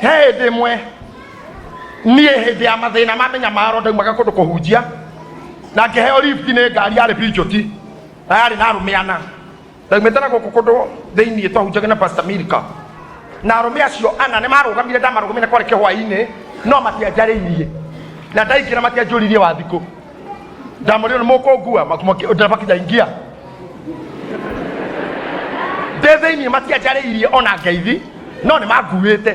he hĩndĩ ĩmwe niĩ hĩndĩ ya mathĩna ma mĩnyamaro ndaumaga kũndũ kũhunjia na ngĩheo ribiti nĩ ngari yarĩ pinjoti na yarĩ na arũme ana ndaumĩte na gũkũ kũndũ thĩinĩ twahunjaga na pastor milka na arũme acio ana nĩ marũgamire ndamarũgamire kwarĩ kĩhwainĩ no matianjarĩirie na ndaingĩra matianjũririe wathikũ ndamwĩrire nĩ mũkũngua ndereba kijaingia ndĩ thĩinĩ matianjarĩirie ona ngeithi no nĩ manguĩte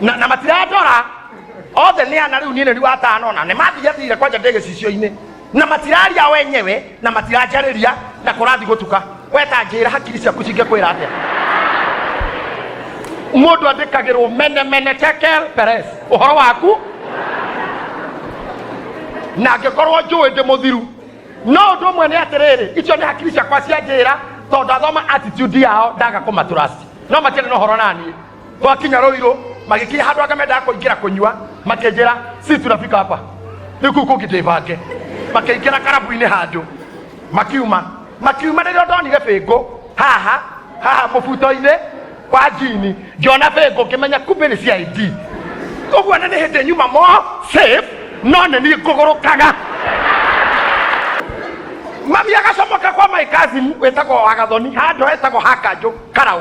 na, na matirandora othe nĩ ana rĩu niĩ nĩ riu atano na nĩ mathiathire kwanja ndĩ gĩcicio-inĩ na matiraria wenyewe na matiranjarĩria na kũrathi gũtuka wetangĩra hakiri ciaku cingĩkwĩra atĩa mũndũ andĩkagĩrwo mene mene tekel peres ũhoro waku na angĩkorwo njũĩ ndĩ mũthiru no ũndũ ũmwe nĩ atĩrĩrĩ icio nĩ hakiri ciakwa cia njĩra tondũ ndathoma attitude yao ndaga kũmatũrasi no matiarĩ na ũhoro naniĩ Twakinya Ruiru magikinya handu anga mendaga kuingira kunyua makinjira sisi tunafika hapa riku kungi ndibange makiingira karabu-ini handu makiuma makiuma rĩrĩa ndonire bĩngũ haha haha mũbuto-inĩ wa njini ngĩona bĩngũ ngĩmenya kumbĩ nĩ cia id ũguo nĩ nĩ hĩndĩ nyuma mo safe no nĩ niĩ ngũgũrũkaga mami agacomoka kwa my cousin wĩtagwo wagathoni handũ hetagwo hakanjũ karaũ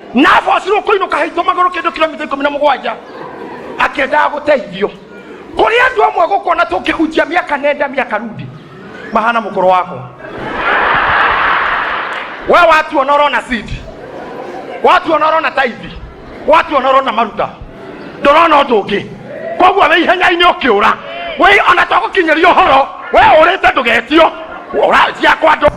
nabo asirwo kũinũka haitũ magũrũ kĩndũ kilomita ikũmi na mũgwanja akĩendaga gũteithio kũrĩ andũ amwe gũkona tũngĩhunjia mĩaka nenda mĩaka rudi mahana mũkũrũ wako we watu ona ũrona sidi watu ona ũrona taithi watu ona ũrona maruta ndũrona ũndũ ũngĩ koguo wĩ ihenya-inĩ ũkĩũra wĩ ona twagũkinyĩria ũhoro we ũrĩte ndũgetio ũra ciakwa ndũ